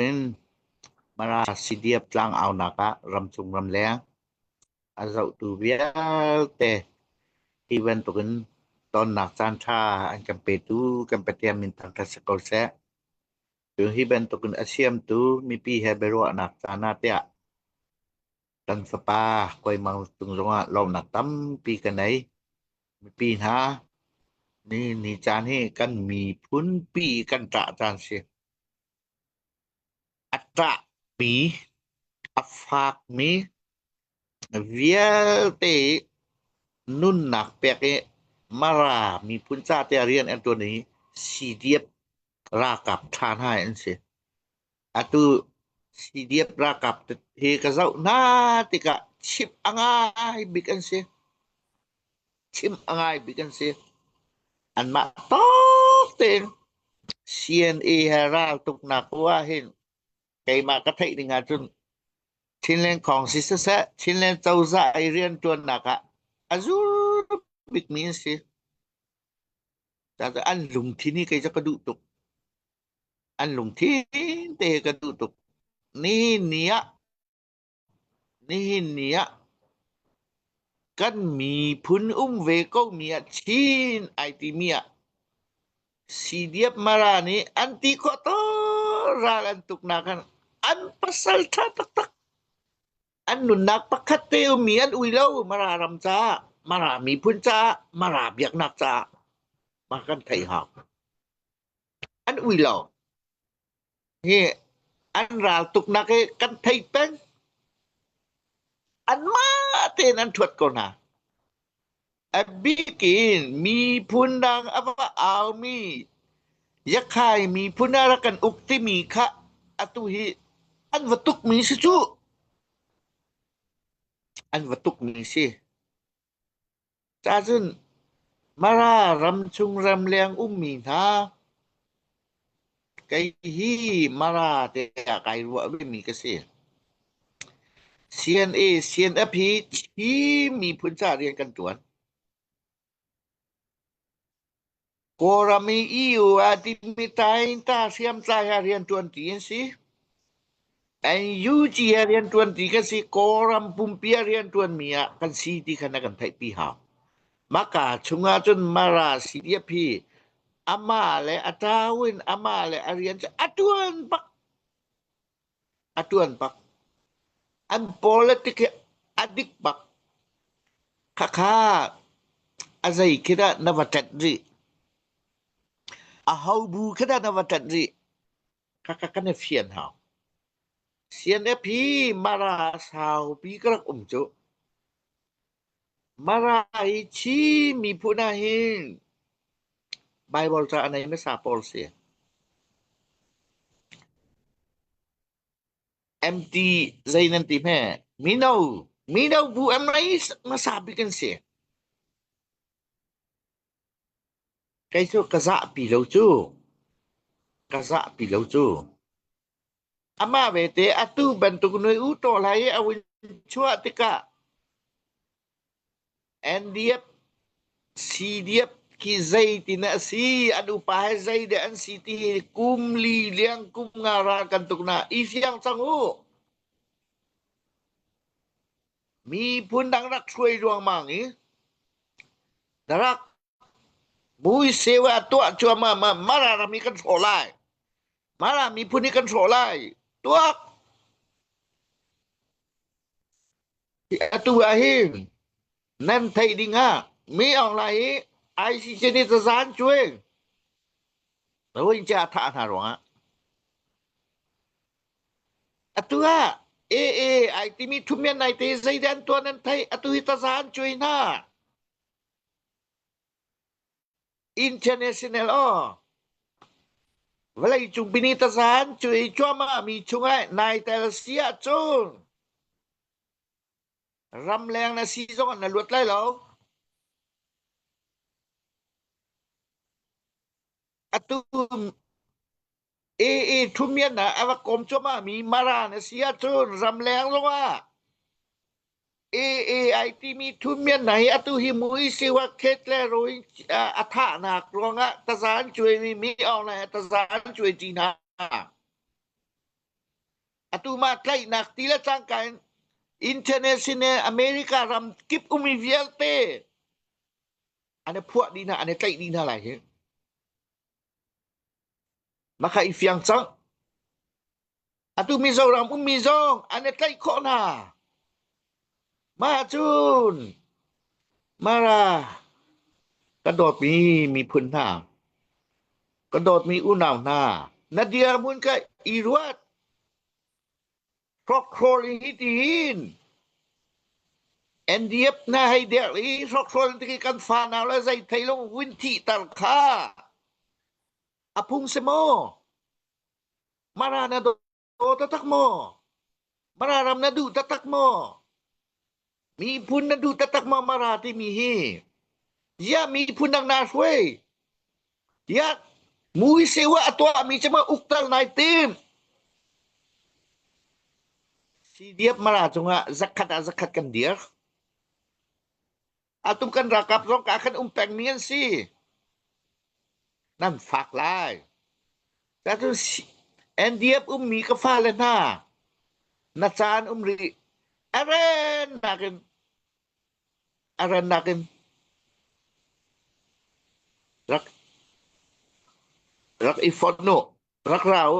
in Parasidiap tlangaunak ah ramchung ramleng a zohtu vialte hi bantuk in tonnak caan ṭha an kan petu kan Pathian min thangṭhat si ko seh. Cu hi bantuk in a siamtu mipi he biaruahnak caan ah tiah kan fapa Koimang Tung zongah lawmnak tampi ka nei. Mipi hna ni ni caan hi kan miphunpi kan ṭah caan si. A ṭahpi, a fakmi vialte i nunnak pek i Mara miphun cate a rian an ṭuan i CDF ralkap ṭhan hai an si. Atu CDF ralkap hi ka zoh hna tikah chimh a ngai bik an si. chim a ngai bik an si. Anmah tawk tein CNA he raltuknak ah hin keimah ka theih ding ahcun Chinland Kong si siseh, Chinland cozah i riantuannak ah a zur bikmi an si. An lungthin hi kei cu ka duh tuk. An lungthin te ka duh tuk. Ni ni ah Nihin ni ah kan miphun um ve komi ah Chin ai timi ah Sidiap Mara nih an ti khawh tawn ral an tuknak khan an pasal ṭha taktak an nunnak pakhat te ummi an ui lo Mara ram caah Mara miphun caah Mara biaknak caah mah kan thei hau an ui lo hi an ral tuknak hi kan thei peng an mah tein an thuat ko hna a bik in miphun dang a va aumi yakhai miphun a rak kan uk timi kha atu hi an va tuk mi si cu an va tuk mi si Cahcun Mara ramchung ramleng ummi hna, kei hi Mara te ah kai ruah vemi ka si. CNA, CNF hi Chin miphun caah rian kan tuan. Kawlram i EU ah timhmi taiinta hriamtlai ah rianṭuanṭi an si. NUG ah rianṭuanṭi kan si. Kawlram pumpi ah rianṭuanmi ah kan si ti kha na kan theihpi hau. Maka chungah cun Mara CDF hi amah le a tau in amah le a rian cu a ṭuan bak. A ṭuan bak. An politic hi a dik bak. Khakha a zei khi dah na va ṭanh rih? A hobu khi dah na va ṭanh rih? Khakha kan i fian hau. CNF hi mara saupi ka rak um cu. Mara i Chin miphun ahhin Baibal ca a nei hmasa pawl si. Em ti zei nan ti hme? Mino, mino bu em rei hmasa bik an si. Kei cu ka zahpi lo cu. Ka zahpi lo cu. Amah vete atu bantuk nuih u ṭaw hlah i a vun chuah tikah Andiep, Sidiep khi zei ti na a si, an upa he zei deh an si ti hi kum li liang kum nga ral kan tuk na i fiang cang u. Miphun dang rak hruai ruangmang i na rak Mui seu ah a tuah cuahmah ah Mara ram hi kan hrawh lai. Mara miphun hi kan hrawh lai. Tuak! Hi atu ahhin nan theih ding ah mi online hi ICC nih cazan cuai Rohingya a thah hna ruangah atu ah AA ai timi thuhmian nai te zeidah an tuah nan theih atu hi cazan cuai hna. International aw vawleicung pinitasan cu i cuahmahmi chungah nai tel si ahcun ramleng na si zongah na luat lai lo. Atu AA ṭhumian ah a rak kawm cuahmahmi Mara na si ahcun ramleng zongah AA ai timi ṭhumian hna hi atu hi Muisihua Khet le Rohing ah a thahnak ruangah taza an cuaimi mi awng le taza an cuaiṭi hna. Atu mah tlaihnak ti le cangka in internet sin le America ram kip umi vialte an i phuah dih hna, an i tlaih dih hna lai hi. Na kha i fiang cang. Atu Mizoram ummi zong an i tlaih khawh hna. Mah cun Mara ka dawtmi miphun hna, ka dawtmi unau hna, na dirhmun kha i ruat. Hrokhrawl in hitiin NDF hna hei der i hrokhrawl ti kan fa nau le zei thei lo vun thihter kha a phung si maw? Mara na do taktak maw? Mara ram na duh taktak maw? Miphun na duh taktak ma mara timi hi ziah miphun dang na hruai tiah muiseu ah a tuahmi cuma uktal nai tim CDF mara cungah zakhat ah zakhat kan dir atum kan rakap zong ka kan um pengmi an si Nan fak lai. Andy a ummi ka fale hna, na caan um rih. A ren nakin, a ren nakin rak i fawnh u, rak ra u.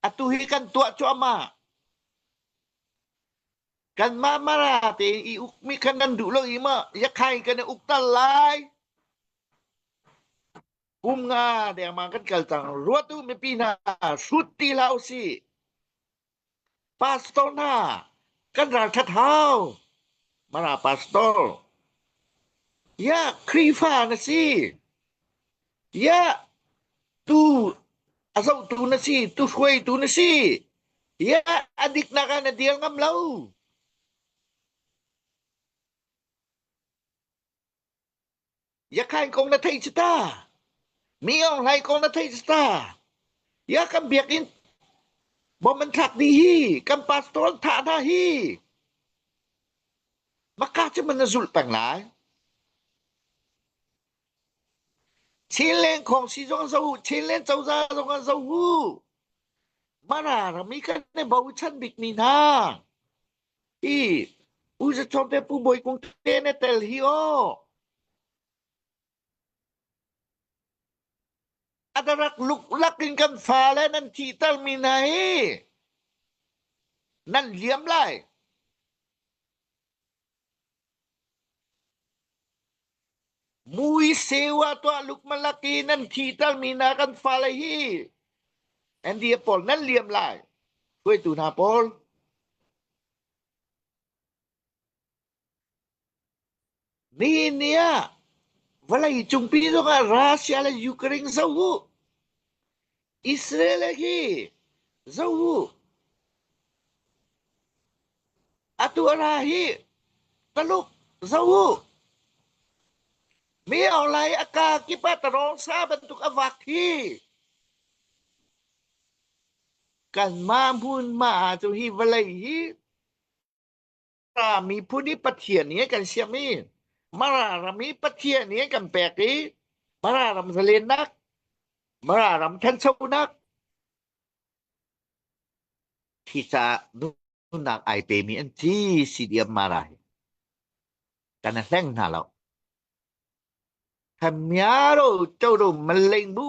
Atu hi kan tuah cuahmah. Kanmah mara tein i ukmi kan nan duh lo i ma yakhai kan i uk tal lai. Kum nga dengmang kan kal cang. Ruat u mipi hna hrut ti la u si. Pastor hna kan ralthat hau. Mara pastor. Ya Khrifa na si. Tiah tu a zohtu na si, tu hruaitu na si, tiah a diknak ah na dir ngam lo. Yakhain kong na theih cu ta. Mi Aung kong na theih cu ta. Ya kan biakin bom an thlak di hi, kan pastor an thah hna hi. Maka cu man na zulh peng lai. Chinland khawng si zong a zoh, Chinland cozah zong a zoh uh. Mana rami kan i bochan bikmi hna. Hi U Za Chom te Pu Bawi Kung te ne tel hi aw. Adarak luklak in kan fale nan thihter mi hna hi nan liam lai. Muiseu ah tuah lukmalak i nan thihtermi hna kan fale hi NDF pawl nan liam lai hruaitu hna pawl. Ni ni ah vawlei cungpi zongah Russia le Ukraine zoh u. Israel ah hi zoh u, atu ara hi Taluk zoh u, mi orlai a ka kip ah tarong sa bantuk a vak hi kanmah hmun ma cu hi vawlei hi Pa miphun i Pathian hi kan siam i Mara ram i Pathian hi kan pek i Mara ram zalennak Mara ram thanchonak khi ca duhnak ai pemi an ci si diam mara hi kan hleng hna lo thamia ro cho ro maleng bu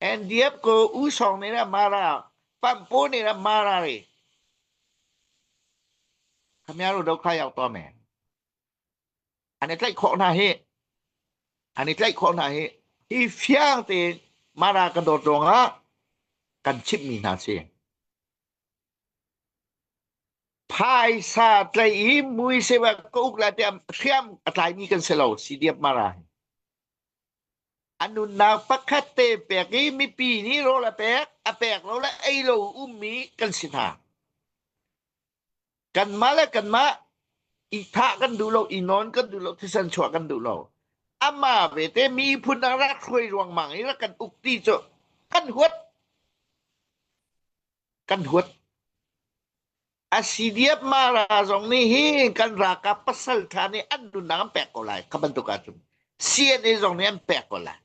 Andiam ko U Sawng nih a mara, Pampo nih a mara ri. Khamia ru do khai au to men. An i tlaih khawh hna hi. An i tlaih khawh hna hi. Hi fiang tein mara kan dawt ruangah kan chimh mi hna si. Phaisa tlai i mui sewa ka uk la tiam hriam a tlai mi kan si lo si diam mara hi. A nunnak pakhat te pek i mipi nih rawl a pek, a pek lo le ei lo ummi kan si hna. Kanmah le kanmah i thah kan duh lo, i nawn kan duh lo, thisen chuah kan duh lo. Amah vete miphun ah rak hruai ruangmang i rak kan uk ti cu kan huat. Kan huat. Asidiapmara zong nih hi kan ralkap pasaltha nih an nunnak an pek ko lai kha bantuk ahcun CNA zong nih an pek ko lai.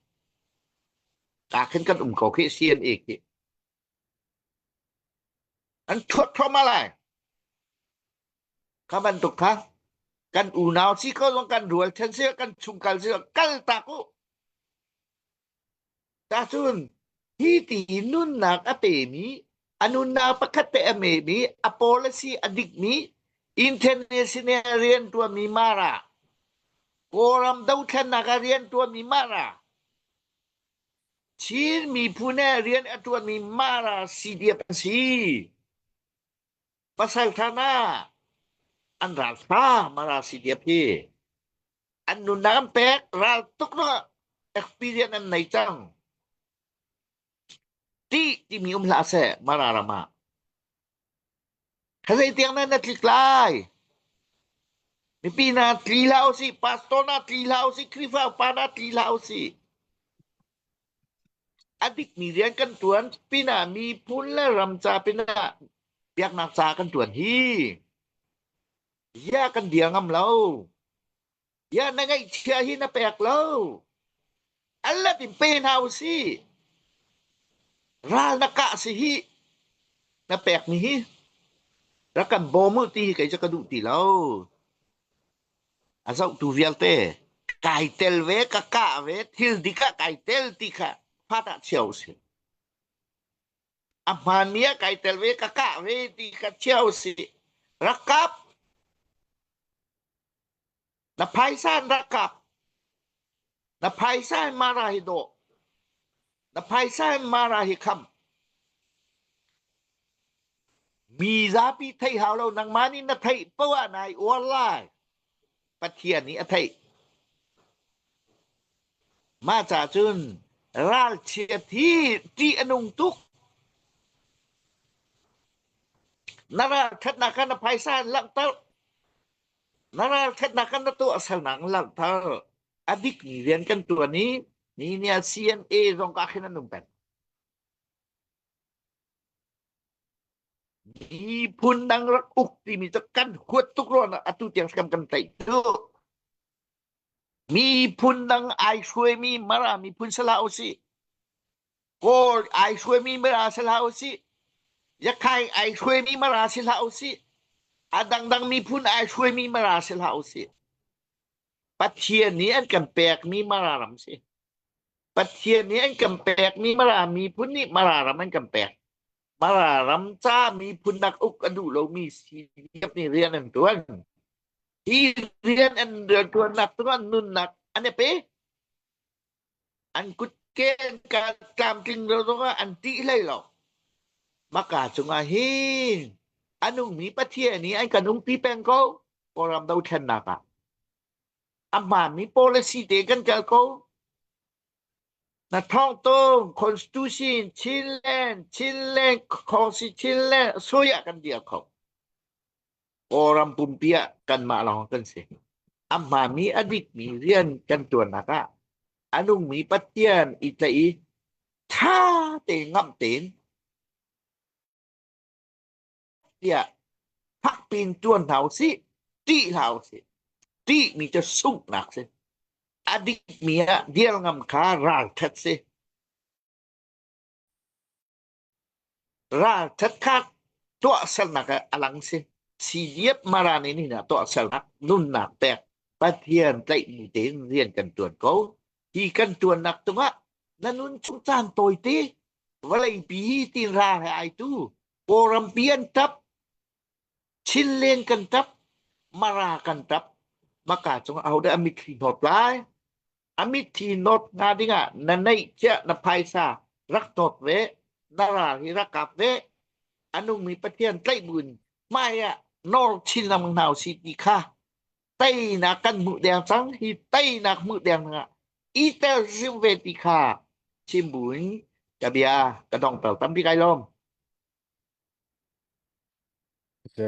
Ka khin kan um ko khi CNA khi an thuat thoma lai kha bantuk kha kan unau si ko zong kan rual then si kan chung kal si kal tak u Tahcun hi ti nunnak a pemi, a nunnak pakhat te a memi, a policy a dikmi, International rian ṭuanmi Mara, Kawlram dothlennak ah rian ṭuanmi Mara, Chin miphun he rian a ṭuanmi Mara CDF an si. Pasangthan ah an ral hram a ral si diam hi an nunnak an pek ral tuk lo experience an nei cang ti timi um hlah seh mara ram ah khazei tiang nan na tlik lai mipi na tli la usih pastor na tli la usih khrihfa upa na tli la usih A dikmi rian kan ṭuan pinah miphun le ram ca pinah biaknak ca kan ṭuan hi bia kan dir ngam lo. Bia na ngeihchia hi na pek lo. Alat in pe hna u si. Ral na kah si hi na pekmi hi rak kan bawm u ti hi kei cu ka duh ti lo. A zohtu vialte kai tel ve, ka kah ve, thil dik ah kai tel ti kha fat ah chia usih. A hmaanmi ah kai tel ve, ka kah ve ti kha chia usih. Rak kap. Na phaisa in rak kap. Na phaisa in mara hi dawh. Na phaisa in mara hi kham. Mi zapi thei hau lo. Nangmah nih na theih poh ah nai uar lai. Pathian nih a theih. Mah ca cun ralchiat hi ṭih a nung tuk. Na ralṭhatnak kha na phaisa in langhter. Na ralṭhatnak kan na tuahsernak in langhter. A dikmi rian kan ṭuan i mi nih a CNA zong ka khin an um peng. Miphun dang rak uk timi cu kan huat tuk rua na atu tiang kan kan tlaih duh. Miphun dang ai hruaimi Mara miphun si hlah usih, Kawl ai hruaimi Mara si hlah usih, Yakhai ai hruaimi Mara si hlah usih, a dangdang miphun ai hruaimi Mara si hlah usih. Pathian nih an kan pekmi Mara ram si. Pathian nih an kan pekmi Mara miphun nih Mara ram an kan pek. Mara ram ca miphun nak uk a duh lomi CDF nih rian an tuan. Hi rian an tuan nak cu an nunnak an e pe. An kut ke ka tlamtling lo zongah an tih hlei lo. Maka cungah hi anungmi pathian nih an kan ungpi peng ko kawlram do thlennak ah a hmaanmi policy te kan kal ko Na thawng tung constitution Chinland Chinland constitution sui ah kan dia kho Kawlram pumpi ah kanmah lawng kan si a hmami a dikmi rian kan tuannak ah a nungmi Pathian i tla i ṭha te ngamh tein tiah phakpiin tuan hna u sih ṭih hlah u sih ṭihmi cu sunghnak si a dikmi ah dir ngam kha ralṭhat si ralṭhat kha tuahsernak a lang si siliep marani ni na tuahsernak nunnak pek pathian tlaihmi tein rian kan tuan ko hi kan tuannak tungah na nun chung caan tawite vawleipi hi tin ra he ai tu Kawlrampi an ṭap, Chinleng kan ṭap, Mara kan ṭap. Maka cung ahodah a mitthli hnawt lai? A mitthli hnawt hnga dingah na neihciah na phaisa rak hnawt ve, na ral hi rak kap ve. A nungmi Pathian tlaih buin hmai ah nawl chin lamang hna u si ti kha teinak kan hmuh deng cang hi teinak hmuh deng dingah i terzim ve ti kha chim buin ka bia ka dong pel tampi kai lawm